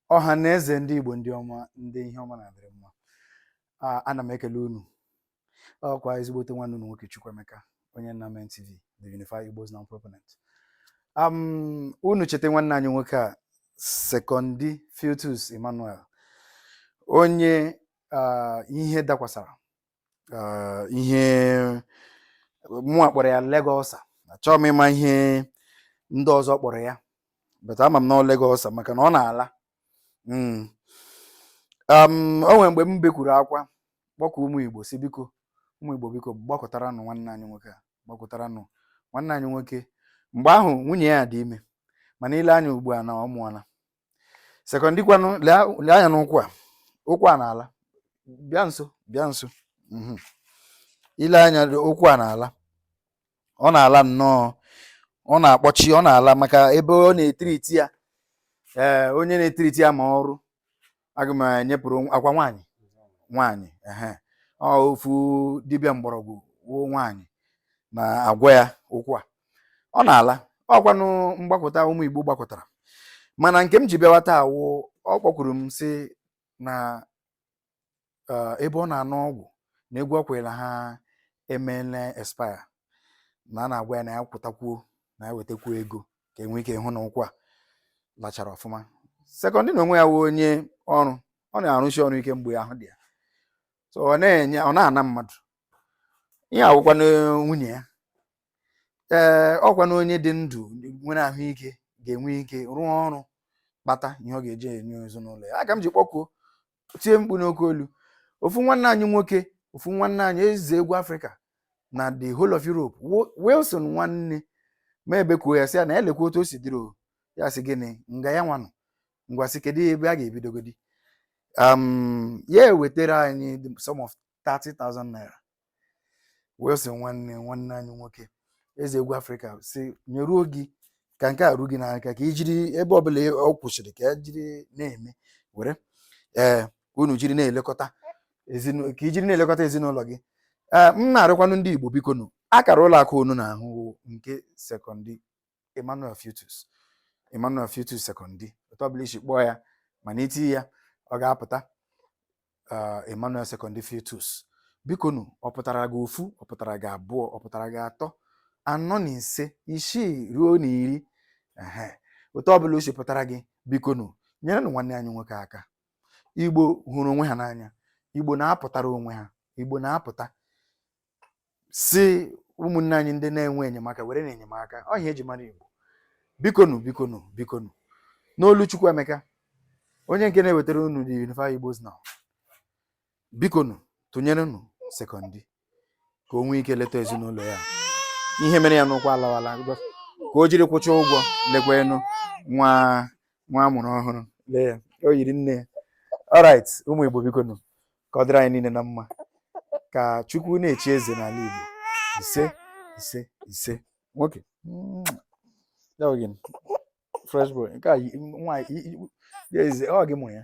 ọha na eze ndị Igbo ndị ọma ndị ihe ọma na-adịrị mma A- ana m ekele unu ọkwa ezigbote nwanne unu nwoke Chukwuemeka onye nna men TV the Unified Igbos Now Proponent um, unu cheta nwanne anyị nwoke a Sekondi Futus Emmanuel onye ah, ihe dakwasara ah, ihe mụnwa kpọrọ ya leg ulcer achọghị m ịma ihe ndị ọzọ kpọrọ ya but ama m na ọ leg ulcer maka na ọ na-ala Mm. Um, o nwere mgbe m bekwuru akwa kpọkuo ụmụ Igbo sị biko ụmụ Igbo biko gbakọtaranụ nwanne anyị nwoke a gbakọtaranụ nwanne anyị nwoke mgbe ahụ nwunye ya dị ime mana i lee anya ugbu a na ọ mụọla Sekondi kwanụ lee anya n'ụkwụ a ụkwụ a na-ala bịa nso bịa nso mhm. i lee anya ụkwụ a na-ala ọ na-ala nnọọ ọ na-akpọchi ọ na-ala maka ebe ọ na-e treat ya ee eh, onye na-e treat ya ma ọrụ aga m enyepụrụ akwa nwaanyị nwaanyị ehe ofu dibịa mgbọrọgwụ ọ nwaanyị na-agwọ ya ụkwụ a ọ na-ala ọkwanụ mgbakọta ụmụ Igbo gbakọtara mana nke m ji bịawa taa wụ ọ kpọkwuru m sị na eh, ebe ọ na-aṅụ ọgwụ na ego ọ kwụrụ ha emele expire na a na-agwa ya na ya kwụtakwuo na ya wetakwuo ego ka e nwee ike hụ na ụkwụ a lachara ọfụma Sekondi n'onwe ya wụ onye ọrụ ọ na-arụsi ọrụ ike mgbe ahụ dị ya so ọ na-enye ọ na-ana mmadụ ihe awụkwa na nwunye ya ee ọkwa na onye dị ndụ nwere ahụike ga-enwe ike rụọ ọrụ kpata ihe ọ ga-eji enye ezinụlọ ya aka m ji kpọkuo tie mkpu n'oke olu ofu nwanne anyị nwoke ofu nwanne anyị eze egwu afrịka na the whole of europe Wo- Wilson Nwanne mụ ebekuo ya sị ya na ya lekwa otu o si dịrị o ya sị gịnị nga ya nwanụ ngwa sị kedu ebe a ga-ebidogodi um, ya ewetara anyị the- sum of 30,000 naira wee sị nwanne nwanne anyị nwoke eze egwu afrịka sị nyeruo gị ka nke a ruo gị n'aka ka i jiri ebe ọbụla ọ kwụsịrị ka e jiri na-eme were ee ka unu jiri na-elekọta ezinụlọ ka i jiri na-elekọta ezinụlọ gị ee m na-arịkwanụ ndị igbo bikonụ akara ụlọ akụ unu na-ahụ nke Sekondi Emmanuel Futus Emmanuel Futus Sekondi otu ọbụla i si kpọọ ya mana i tie ya ọ ga-apụta uh, Emmanuel Sekondi Futus bikonụ ọ pụtara gị ofu ọ pụtara gị abụọ ọ pụtara gị atọ anọ na ise isii ruo na iri otu ọ bụla o si pụtara gị bikonụ nyerenụ nwanne anyị nwoke aka igbo hụrụ onwe ha n'anya igbo na-apụtara onwe ha igbo na-apụta si ụmụnne anyị ndị na-enwe enyemaka werenụ enyemaka ahụ e ji mara Igbo bikonu bikonu bikonu n'olu Chukwuemeka onye nke na-ewetara unu the Unify Igbos Now bikonu tụnyerenụ sekọndị ka o nwee ike leta ezinụlọ ya ihe mere ya n'ụkwụ alawala ka o jiri kwụcha ụgwọ lekwanụ nwa nwa a mụrụ ọhụrụ lee ya o yiri nne ya alright ụmụ Igbo bikonu ka ọ dịrị anyị niile na mma ka chukwu na-echi eze n'ala igbo ise ise ise nwoke fresh boy nke a nwaanyị ọ gị mụrụ ya